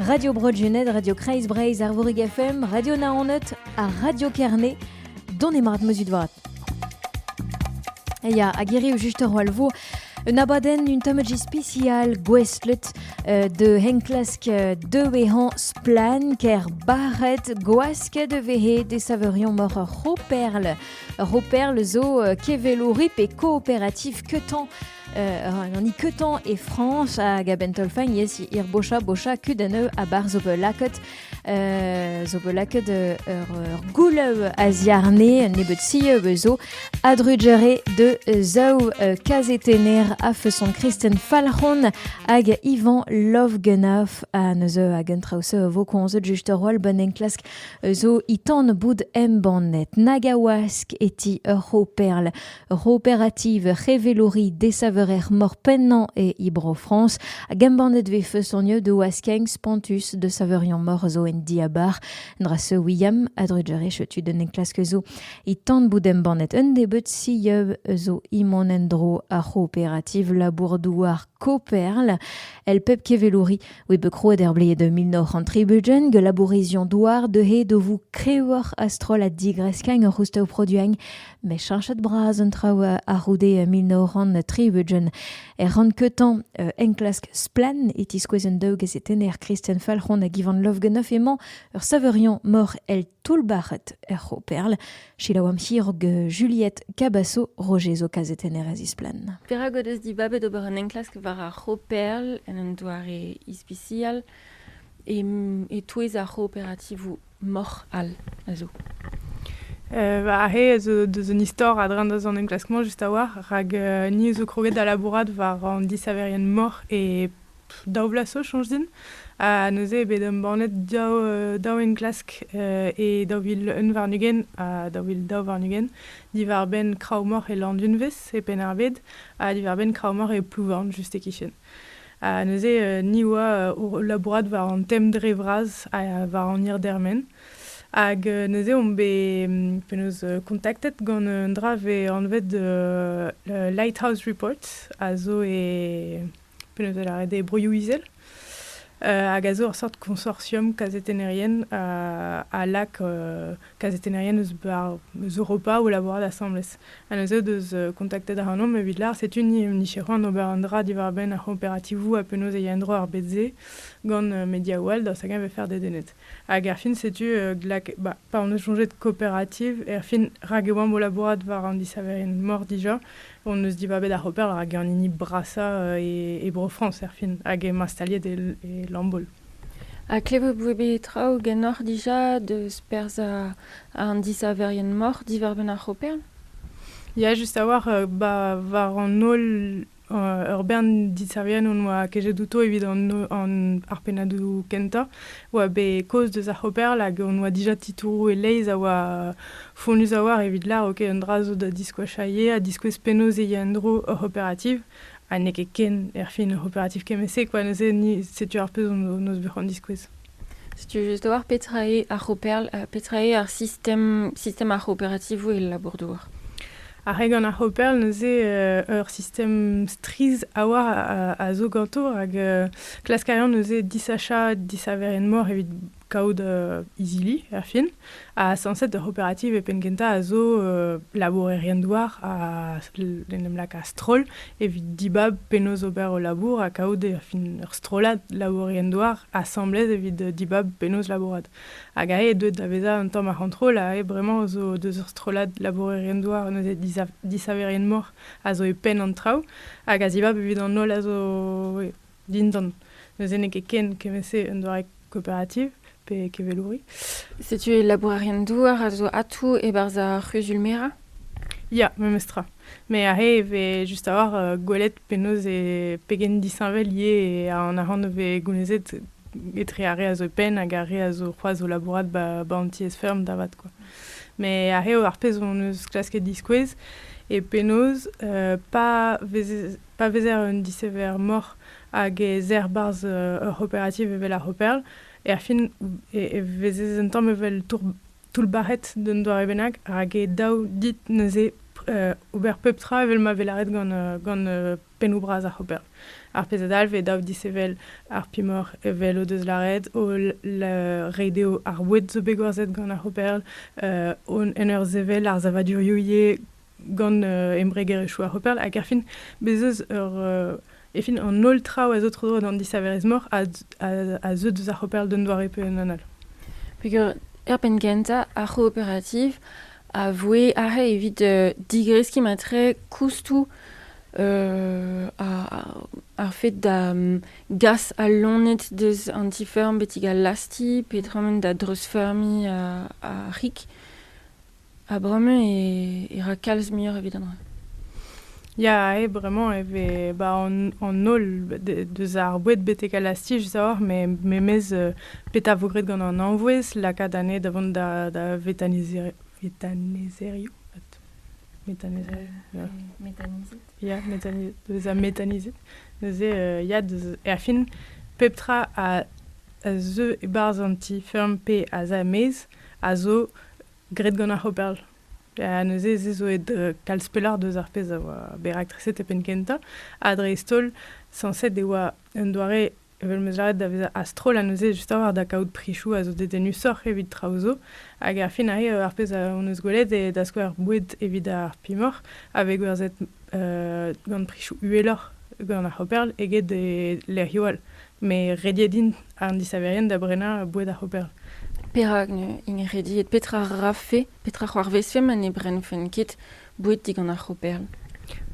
Radio Bro-Gened, Radio Kreiz Breizh, Arvorig FM, Radio Naoned ha Radio Kerne, dont emarat meuzut vat. Ya, a gerioù just ur alvo, un abadenn un tamm spécial gouestlet euh, de henklask euh, de vehan splan ker baret gwask de vehe de saverion mor ur roperl. Ur roperl zo euh, kevelourip et coopératif ketan an ikeutan e Frans hag a-benn taolfain yes ir bocha bocha kud aneu a bar zo bet laket zo bet laket ur goulev a ziarne un nebeut si zo a drujere de zaou kazetener a feson Kristen Falc'hon hag Ivan Lovgenov a neuze hag un traouse vo konzet just ur roal bon enklask zo itan boud embannet nagawask eti ur c'ho perl Ur c'hooperativ c'hevelouri desaveurer-mor pennañ e Bro-Frañs hag embannet e vez feustoniet o askeng spontus da saveuriañ-mor zo en diabar. Dra-se William a drugarez tud un enklask zo e tan bout embannet un nebeud sieub zo e mont en-dro ar c'hooperativ labour-douar Koperl. El pep kevelouri oe bet krouet er bled 1930 que labourizion douar deuhe do vous krewoc'h a-stroll a digresk ur c'housteu produiñ met cheñchet bras an traoù a-c'houde mil nav c'hant tri-ugent. Er rann-keutañ enklask Splann! e tiskouez an daou gazetenner Kristen Falc'hon hag Ivan Lovganoff emañ ur savoriañ mor el toull-bac'het er C'hooperl. Selaouamp hirog Juliette Cabasso, Roger zo kazetenner a zisplann. Perak o deus dibabet ober un enklask war ar C'hooperl en un doare ispisial e-touez ar c'hooperativoù moc'h all a zo. Euh, ar he a zo deus un istor a-dreñv deus an enklask-mañ just a-walc'h, rak euh, ni a zo kroget da labourat war an disaverien moc'h e pff, daou vloaz zo, soñj din. Ha neuze eo bet embannet daou, euh, daou enklask euh, e daou vil un warn-ugent ha daou vil daou warn-ugent diwar-benn kraou-moc'h e Landunvez, e Penn-ar-Bed, ha diwar-benn kraou-moc'h e Plouvorn, just e-kichen. Ha neuze ni oa o labourat war an tem dre vras ha war an hirdermen. Hag neuze omp bet penaos kontaktet gant un dra vez anvet Lighthouse Report a zo e penaos da lâret e Broioù-Izel. hag a zo ur seurt konsortium kazetennerien a lak kazetennerien eus Europa o labourat asambles. Ha neuze deus kontaktet ac'hanomp evit lâr setu ni hon nicheroù an ober un dra diwar-benn ar c'hooperativoù ha penaos e ya en-dro ar bed-se gant mediaoù all daoust hag-eñ e faire dedennet. Hag erfin setu glak ba, pa hon eus soñjet kooperativ erfin rak e oamp o labourat war an disaverien mor dija hon eus dibabet ar c'hooper rak eo an hini brasañ e Bro-Frañs erfin hag emañ staliet e Lambaol. Ha klevout vo bet traoù ganeoc'h dija deus perzh an disaverien-moc'h diwar-benn ar c'hoperl? Ya, just a-walc'h. Ba war an holl ur bern disaverien hon boa kejet outo evit ar pennadoù kentañ oa bet kaoz deus ar c'hoperl hag hon boa dija titouroù e-leizh a oa fonnus a-walc'h evit lâr ok un dra zo da diskoachañ ivez ha diskouez penaos e ya en-dro hor c'hooperativ. ha n'eo ket ken erfin ur c'hooperativ kement-se quoi neuze ni setu ar pezh hon eus bet c'hoant diskouez setu just oar petra eo ar c'hooperl ha petra eo ar sistem sistem ar c'hooperativoù el labour-douar ar re gant ar c'hooperl neuze euh, ur sistem strizh a oar a, a zo ganto rak euh, klask a ran neuze disachañ disaverien-mor evit kaout izili er fin, ha sañset ur c'hooperativ e penn-kentañ a zo labourerien-douar a en em laka stroll evit dibab penaos ober o labour ha kaout er fin ur strollad labourerien-douar asambles evit dibab penaos labourat. Hag aze eo deuet da vezañ un tamm ar c'hontrol aze bremañ zo deus ur strollad labourerien-douar neuze disaverien-mor a zo e penn an traoù hag a zibab evit an holl a zo dindan. Neuze n'eo ket ken kement-se un doare coopérative pe kevelouri. Setu labourerien-douar a zo atou e-barzh ar c'huzul-merañ Ya, memes tra. Mais aze e vez just a-hoc'h euh, gwelet penaos e pegen disheñvel eo an arc'hant o vez gounezet etre ar re a zo e penn hag ar re a zo c'hoazh o labourat ba, ba an tiez-feurm da vat quoi. Mais aze ar pezh hon eus klasket diskouez eo penaos euh, pa vez Pa vezer un disever-moc'h hag ez er 'barzh ur c'hooperativ evel ar C'hooperl, erfin e vezez un tamm evel toullbac'het d'un doare bennak rak eo dav dit neuze ober pep tra evel ma vez lâret gant pennoù bras ar C'hooperl. Ar pezh a dalv eo dav disevel ar pimoc'h evel o deus lâret, o reiñ dezho ar boued zo bet gwerzhet gant ar C'hooperl, en ur sevel ar savadurioù ivez gant uh, embregerezhioù ar Hopperl, hag erfin, bez' eus ur... Uh, efin, an holl traoù a zo tro-dro d'an disaverezh-mor a, a, a zeu deus ar Hopperl d'un doare pe un anal. Peger er penn gentañ, ar c'hooperativ a voe arre evit uh, digreskiñ matre koustoù uh, ar, ar fet da um, gas al lonet deus an ti-feurm betek al lasti petra da dreuzfeurmiñ uh, ar c'hig. Ha bremañ e ra kalz muioc'h evit an dra. Ya, eo bremañ e vez ba an holl deus ar boued betek al lastich deoc'h memes petra 'vo graet gant an anvouezh lakaat anezhe da vont da vetanizerioù ya bezañ metanizet neuze ya erfin pep tra a zeu e-barzh an ti-feurm pe a za er-maez a zo graet gant ar C'hooperl. Ha neuze se zo aet kalz pelloc'h deus ar pezh a oa bet raktreset e penn-kentañ, ha dreist-holl sañset e oa un doare evel m'eus lâret da vezañ a-stroll ha neuze justoc'h da kaout prisoù a zo dedennusoc'h evit traoù zo. Hag ar fin arri ar pezh hon eus gwelet eo da skouer boued evit ar pimoc'h a vez gwerzhet gant prisoù uheloc'h gant ar C'hooperl eget e lec'hioù all. Me rediet int, an disaverien, da brenañ boued ar c'hooperl. Perak int rediet? Petra rafe, petra c'hoarvezfe ma ne brennfent ket boued digant ar c'hooperl?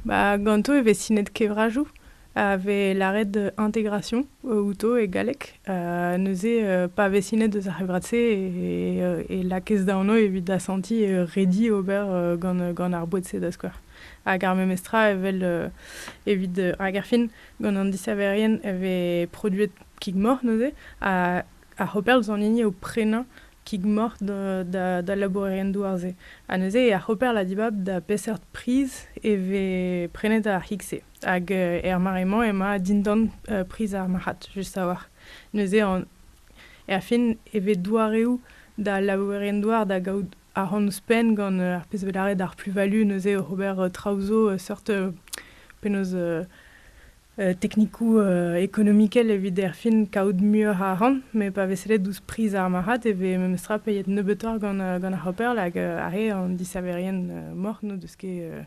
Ba, ganto e vez sinet kevrajoù a vez lâret intégration outo e galleg. neuze, pa vez sinet eus ar c'hevrad-se e lakez da anv evit asantiñ redi ober gant gant ar boued-se da skouer. Hag ar memes tra evel evit hag erfin Gant an disaverien e vez produet kig-moc'h neuze, ha ar c'hooperl zo an hini o prenañ kig-moc'h d'al labourerien douar-se. Ha neuze er c'hooperl a dibab da peseurt priz e vez prenet ar c'hig-se. Hag er mare-mañ emañ dindan priz ar marc'had, just a-walc'h. Neuze er fin e vez doareoù d'al labourerien douar da gaout ahont ouzhpenn gant ar pezh bet lâret ar plus-value neuze oc'h ober traoù zo seurt penaos teknikoù ekonomikel evit erfin kaout muioc'h a arc'hant met pa vez sellet ouzh priz ar marc'had e vez memestra peiet nebeutoc'h gant gant ar c'hoper hag ar re an disaverien moc'h n'o deus ket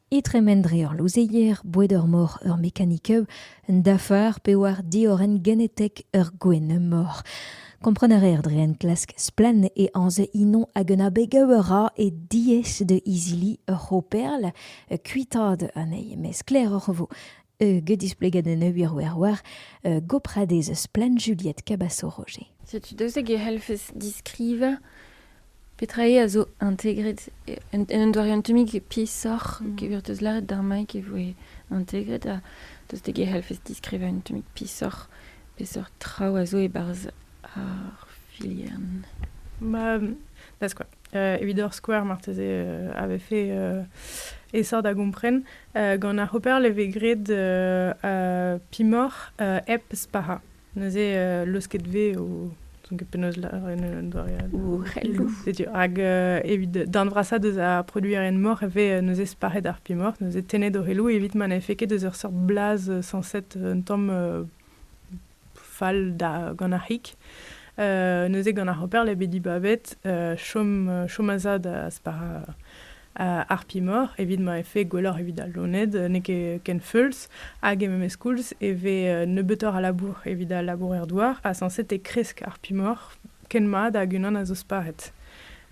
e tremen dre ur louzeier boued ur mor ur mekanikeu un dafar pe war diorren genetek ur gwenn-mor. Kompren a reer dre enklask splann e anz inon hag un abeg a ra e diaes da izili ur c'hooperl kuitaat anezhi, met sklaeroc'h e vo. get displeget en un wirwirwir gopradez splann Juliette Cabaço-Roger. Setu deuseg e c'hellfes diskrivañ petra eo a zo integret un doare un tammig peesoc'h mm. e teus lâret d'ar Mike e voe integret ha deuseg e c'hellfes diskrivañ un tammig peesoc'h peseurt traoù a zo e-barzh ar filiern. Ma, da skouer. Euh, evit ur skouer, marteze, euh, avait fait euh, essor da gompren, Gant ar C'hooperl e vez graet pimoc'h hep spac'hañ. Neuze leusket vez o n'ouzon ket penaos lâret un doare all. Ourelloù. Setu, hag evit darn vrasañ deus ar produerien-moc'h e vez neuze spac'het ar pimoc'h, neuze tennet o c'heloù evit ma n'efe ket eus ur seurt blaz sañset un tamm fall da gant ar c'hig. neuze gant ar hoper l'eo bet dibabet chom, chom a zad spar harpimor evit ma efe gwelloc'h evit al loened, n'eo ket ken feuls, hag e memes koulz e vez nebeutoc'h a labour evit al labourer-douar, ha sañset e kresk harpimor ken mat hag unan a zo sparet.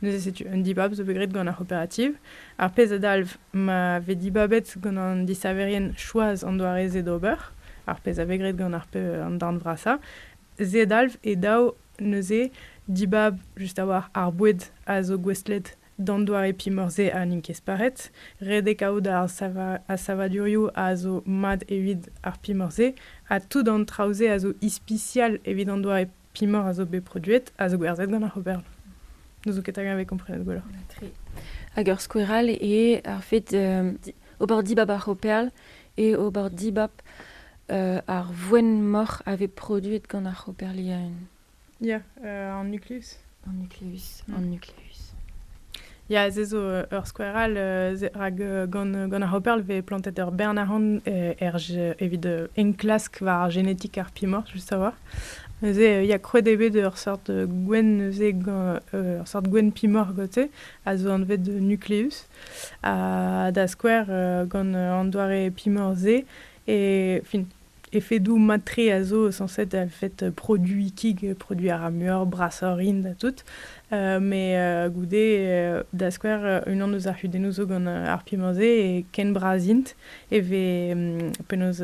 Neuze setu un dibab zo bet graet gant ar c'hooperativ. Ar pezh a dalv ma vez dibabet gant an disaverien choaz an doare-se d'ober, ar pezh a vez graet gant ar an darn vrasañ, se a dalv e daou neuze dibab just a-walc'h ar boued a zo gouestlet d'an doare pimor-se ha n'int ket sparet, redek out ar savadurioù a zo mat evit ar pimor-se, ha tout an traoù-se a zo ispisial evit an doare pimor a zo bet produet a zo gwerzhet gant ar oberl. N'ouzou ket hag vez komprenet gwelloc'h. Tre. Hag ur skoueral eo ar fet euh, ober dibab ar operl et ober dibab euh, ar voen moc'h a vez produet gant ar operliaen. Ya, euh, an nuklus. An nucleus. Mm. An nucleus. Ya, se zo euh, ur skouer all, euh, rak euh, gant, gant ar Hopperl vez plantet ur bern arc'hant er, evit enklask war ar génétique arpimor, juste savoir. Neuze, il y a krouet eo bet ur sort gwen, neuze, ur sort gwen pimor gote, a zo anvet de nucleus, da skouer gant an doare pimor-se, et fin, Efedoù mat-tre a zo sañset er fed produiñ kig, produiñ a ra muioc'h, brasoc'h int ha tout. Met goude, da skouer, unan eus ar c'hudennoù zo gant ar pimañ-se e ken bras int e vez penaos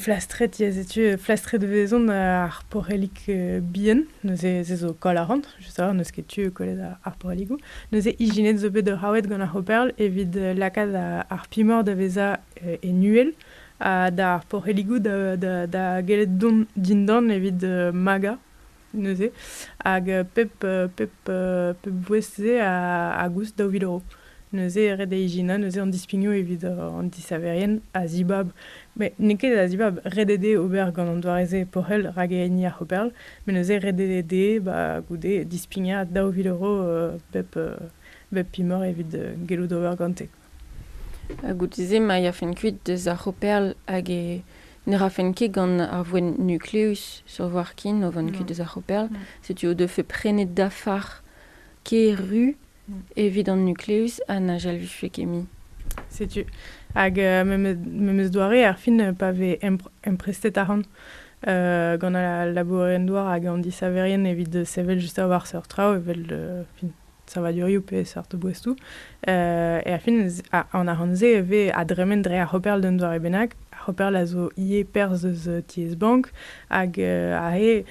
flastret, ya setu, flastret 'vezont ar porellig bihan, neuze se zo koll a ran. je sais n'eus ket tu e kollet ar poreligoù. Neuze ijinet zo bet raouet gant ar c'hooperl evit euh, lakaat ar pimor da vezañ euh, e nuel ha d'ar poreligoù da, da, da gellet dont dindan evit euh, magañ neuze. Hag pep, pep, pep bouez-se a, a goust daou vil euro. Neuze e red da ijinañ neuze an dispignoù evit an disaverien a zibab, met n'eo ket a zibab, ret eo dezhe ober gant an doare-se pochel rak e hini ar c'hooperl, met neuze ret eo dezhe ba goude dispignañ daou vil euro bep bep pimor evit gellout ober gante. Ha goude-se ma yafent kuit deus ar c'hooperl hag e ne rafent ket gant ar voenn nukleus sur voir ken o vont kuit deus ar c'hooperl, setu o defe prenet dafar kêr ru evit an nucleus ha na jalviffe ket mui. Setu. Hag uh, memes doare, ar fin, pa vez emprestet arc'hant uh, gant al labourerien-douar hag an disaverien evit sevel just war seurt traoù, evel uh, fin, savadurioù pe seurt boestoù, uh, e ar fin, an arc'hant-se e vez a dremen dre ar c'hoperl d'un doare bennak. Ar c'hoperl a zo ivez perzh eus tiez bank hag uh, a he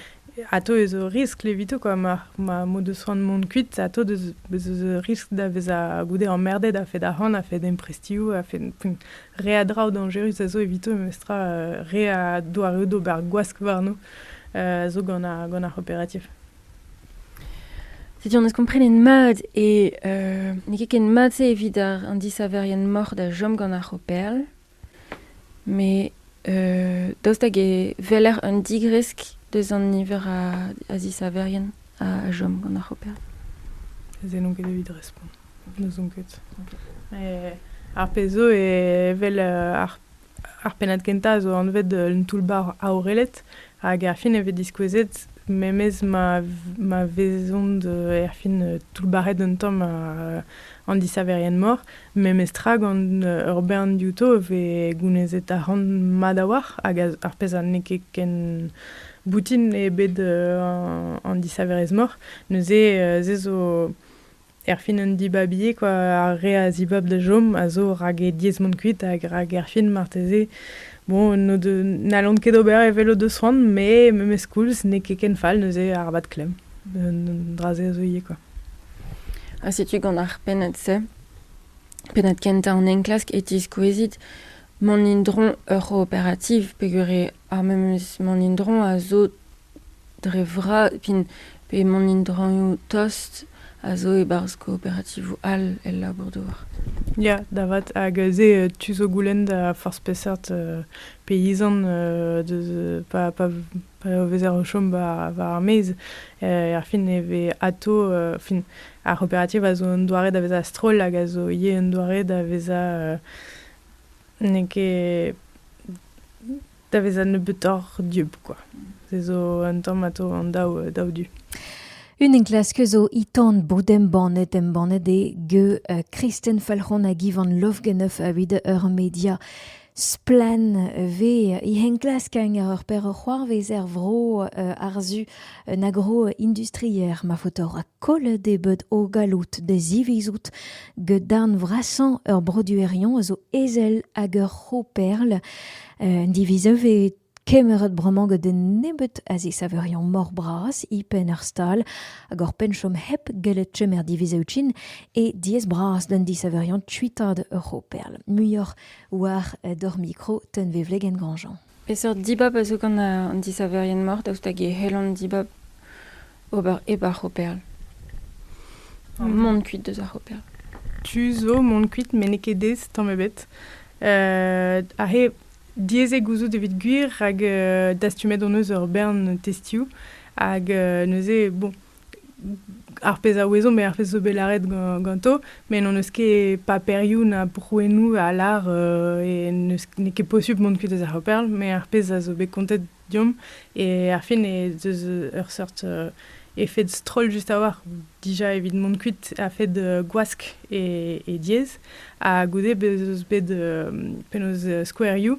Atav ez eo riskl evito kwa ma ma mod eus c'hoant mont kuit atav deus ez eus riskl da vezañ goude emmerded a-fed ac'hann a-fed emprestioù a-fed re a draoù dañjerus a zo evito memestra re a doareoù d'ober gwask warno zo gant ar gant ar c'hooperativ. Setu an eus komprenet mat e n'eo ket ken mat-se evit ar an disaverien moc'h da chom gant ar c'hooperl. Met daoust hag e weler un digresk deus an niver a zisaverien a chom gant ar c'hoper? Se n'on ket evit respont. N'ouzon ket. Ar pezh zo evel ar pennad kentañ a zo anvet un toull-bac'h aorelet. Hag erfin e vez diskouezet memes ma, ma vezont euh, erfin euh, toullbac'het un tamm uh, an disaverien-mor. Memes tra gant euh, ur bern diouto e vez gounezet arc'hant mat a-walc'h hag ar pezh n'eo ket ken boutin eo bet uh, an disaverezh-mor. Neuze uh, se zo Erfin un dibabi eo kwa, ar re a zibab da chom a zo rak e diez mont kuit hag rak erfin marteze bon n'o de- n'hallont ket ober evel o deus c'hoant met memes koulz n'eo ket ken fall neuze arabat klemm un dra-se a zo ivez kwa. Ha setu gant ar pennad-se, pennad kentañ an enklask e tiskouezit mont indron ur operativ peogwir eo ar memes mont indron a zo Dre vras, p'emaon in-draoñioù tost, a zo e-barzh kooperativoù all el labour-douar. Ya, da vat. Hag aze tu zo goulenn da forzh peseurt peizant pa vezer o chom war ar maez. Erfin e vez atav fin ar c'hooperativ a zo un doare da vezañ a-stroll hag a zo ivez un doare da vezañ n'eo ket da vezañ nebeutoc'h dieub kwa. Se zo un tamm atav an daou, daou du. Un enklask zo itan bod embannet embannet eo ge uh, Kristen Falc'hon hag Ivan Lovgenov avit ur media splen ve e henklask ar ur per c'hoarvez er vro uh, arzu un agro industrier ma fotor a koll de bed o galout de zivizout ge darn vrasan ur broduerion a zo ezel hag ur c'hoperl Un diviz a vez kemeret bremañ gant un nebeud a zisaverion mor-bras e-penn ar stal hag oc'h penn chom hep gellet chom er divizoù-trin eo diaes-bras d'an disaverion kuitaat ur c'hooperl. Muioc'h war d'hor mikro tenvevlegenn Grandjean. Peseurt dibab a zo gant an disaverien-mor daoust hag e c'hell an dibab ober hep ar c'hoperl. Mont kuit deus ar c'hoperl. Tu zo mont kuit met n'eo ket aes tamm ebet. aze diaes eo gouzout evit gwir rak dastumet hon eus ur bern testioù hag neuze, bon, ar pezh a ouezo met ar pezh zo bet lâret ganto, met n'hon eus ket paperioù na prouennoù a lâr n'eo ket posubl mont kuit deus ar c'hoperl, met ar pezh a zo bet kontet Deomp. E ar fin ez eus ur seurt euh, efed stroll just a-walc'h, dija evit mont kuit a-fed euh, gwask e, e diez. Ha goude bez eus bet euh, penaos euh, skouerioù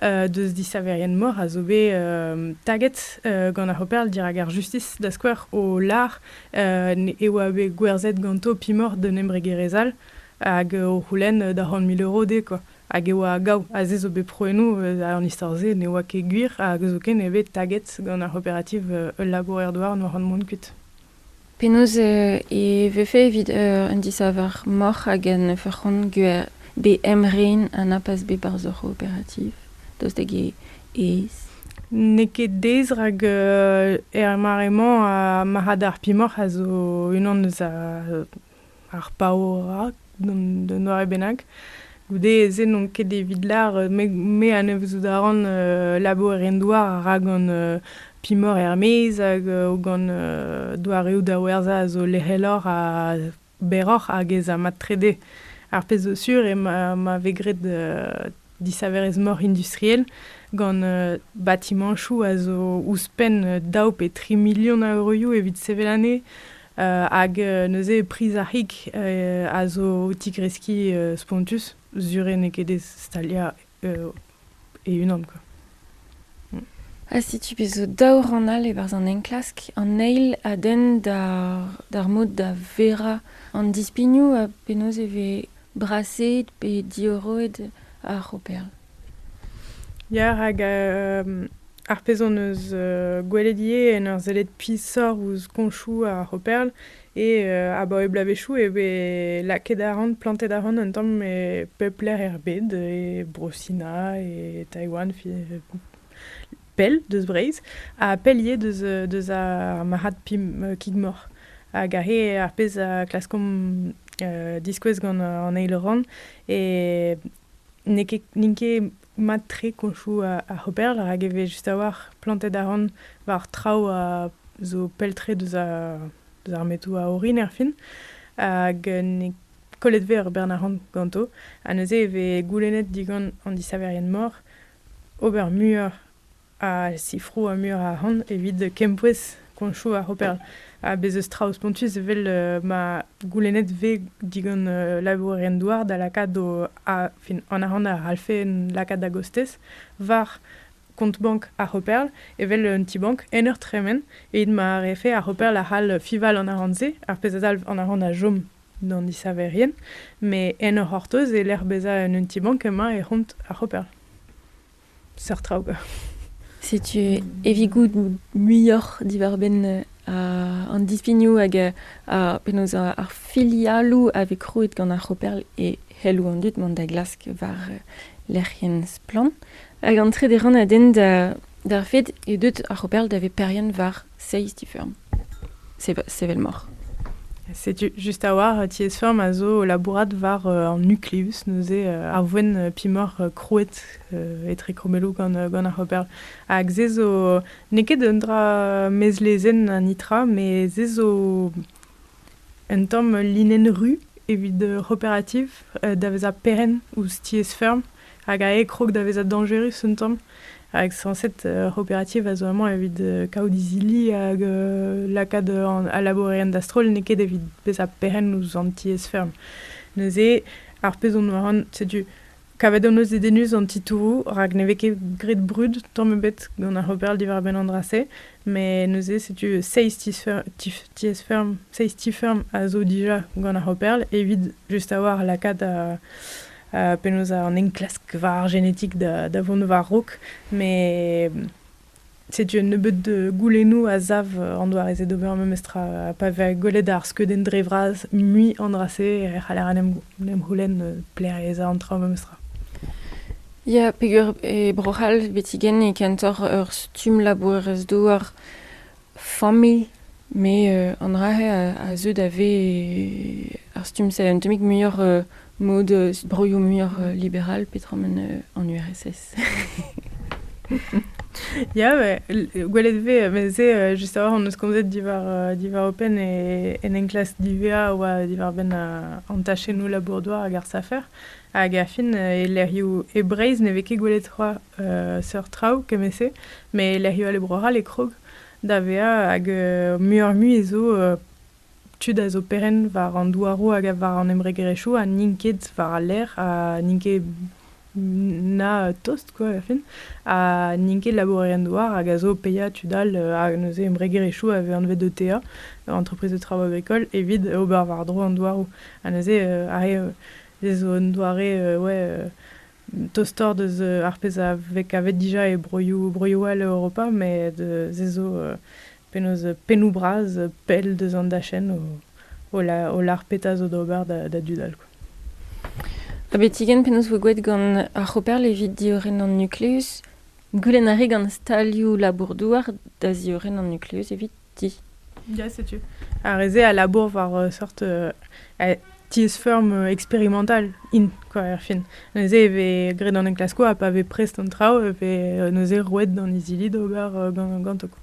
euh, deus disaverien-mor a zo bet euh, taget euh, gant ar C'hooperl dirak ar justis, da skouer o lar euh, ne- e oa bet gwerzhet ganto pimor d'un embregerezh all hag o c'houlenn da c'hant mil euro dezhe, quoi. Hag e oa gaou, ha se zo bet prouennoù eus an istor-se ne oa ket gwir, hag zoken eo bet taget gant ar c'hooperativ ul labourer-douar n'oa c'hoant mont kuit. Penaos e vefe evit un disaver moc'h hag en ur c'hont gwer bet emren ha na pas bet barzh hor c'hooperativ daoust hag aes? N'eo ket aes rak er mare-mañ ar marc'had ar pimoc'h a zo unan eus Ar paourañ d'un doare bennak. Goude-se n'on ket evit lar me anavezout a ran labour en douar rak gant pimor er-maez hag gant doareoù da werzhañ a zo lec'heloc'h ha berroc'h hag ez a mat trede. Ar pezh zo sur eo ma vez graet disaverezh-mor industriel gant batimañchoù a zo ouzhpenn daou pe tri milion a euroioù evit sevel anezhe. hag neuze priz ar c'hig a zo o tigreskiñ spontus sur eo n'eo ket aes staliañ e-unan quoi. Ha setu bet zo daou rann all e-barzh an enklask. An eil a denn d'ar mod da verañ an dispignoù ha penaos e vez Braseet pe diorroet ar c'hooperl? Ya, rak ar pezh hon eus gwelet ivez en ur sellet pishoc'h ouzh koñchoù ar c'hooperl eo abaoe bloavezhioù e vez lakaet arc'hant, plantet arc'hant un tamm e pep lec'h er bed, e Bro-Sina, e Taiwan, pell deus Breizh ha pell ivez deus, deus ar marc'had pim kig-mor. Hag he ar pezh a klaskomp diskouez gant an eil rann e n'eo ket n'int ket mat-tre koñchoù ar c'hooper rak e vez just a-walc'h plantet arc'hant war traoù a zo pell-tre deus ar deus ar metoù a orin erfin. Hag n'eo kollet 'vez ur bern arc'hant ganto. Ha neuze e vez goulennet digant an disaverien-mor ober muioc'h a sifroù ha muioc'h arc'hant evit kempouez koñchoù ar c'hoperl. Ha bez' eus traoù spontus evel ma goulennet vez digant labourerien-douar da lakaat o a- fin an arc'hant a c'hallfe lakaat da gostez war kont-bank ar c'hoperl evel un ti-bank en ur tremen evit ma refe ar c'hoperl a c'hall fiñval an arc'hant-se, ar pezh a dalv an arc'hant a chom. d'an isaverien, met en o c'hortoz e lec'h bezañ en un ti-bank emañ e c'hont ar c'hoper. Seurt traoù. Setu evigout muioc'h diwar-benn an dispignoù hag penaos ar filialoù a vez krouet gant ar c'hoper e c'helloù an dud mont da glask war lec'hienn Splann! Hag an trede rann a denn d'ar fed e deut ar c'hoper da veperien war Seizh ti-feurm. Sevel moc'h. Setu just a-walc'h tiez-feurm a zo labourat war an nucleus, neuze ar voen pimoc'h krouet etre krommelloù gant ar c'hooper. Hag se zo n'eo ket un dra mezlezenn an nitra, met se zo un tamm linenn ru evit cooperative da vezañ perenn ouzh tiez-feurm. hag a krog da vezañ dañjerus un tamm. Hag sañset ur c'hooperativ a zo amañ evit kaout izili hag lakaat al labourerien da-stroll, n'eo ket evit bezañ perc'henn ouzh an tiez-feurm. Neuze, ar pezh on war an, setu, kavet hon eus dedennus an titouroù, rak ne vez ket graet brud tamm ebet gant ar c'hooper diwar-benn an dra-se, met neuze, setu seizh tiez-feurm, seizh ti-feurm a zo dija gant ar c'hooperl evit just a-walc'h lakaat penaos an enklask war ar genetik da vont war-raok, met setu un nebeud goulennoù a sav an doare-se d'ober memes tra. Pa vez gwelet ar skeudenn dre vras mui an dra-se e c'haller en em c'houlenn pleriañ an tra memes tra. Ya, peger e Bro-C'hall, betigen, e kentoc'h ur stumm labourerez-douar familh, met an dra-se a zeu da vez ar stumm-se un tammig muioc'h mod broioù muioc'h liberal petra ma an URSS. Ya, gwelet vez, mez-se just a-walc'h hon eus komzet diwar diwar OPEN e en enklask divea a oa diwar-benn an tachennoù labour-douar hag ar safer, hag a fin e lec'hioù e Breizh ne vez ket gwelet c'hoazh seurt traoù kement-se, met lec'hioù all e Bro-C'hall e krog da vezañ hag muioc'h-mui zo tud a zo perenn war an douaroù hag war an embregerezhioù ha n'int ket war al lec'h ha n'int ket na tost quoi er fin ha n'int ket labourerien-douar hag a zo paeañ tud all hag neuze embregerezhioù a vez anvet ETA entreprise de travaux agricoles evit ober war-dro an douaroù ha neuze ar re zo un doare ouais tostoc'h deus ar pezh a vez kavet dija e broioù broioù all Europa met se zo penaos pennoù bras pell deus an dachenn o o lar petra zo d'ober da dud all quoi. Ha betigen penaos voe gouet gant ar C'hooperl evit diorren an nukluz? Goulenn a rae gant stalioù labour-douar da ziorren an nukluz evit? ti. Ya, setu. Ar re-se a labour war ur sort euh, tiez-feurm euh, experimental int, quoi, er fin. Neuze e vez graet an enklaskoù ha pa vez prest an traoù e vez euh, neuze roet d'an izili d'ober ganto. Quoi.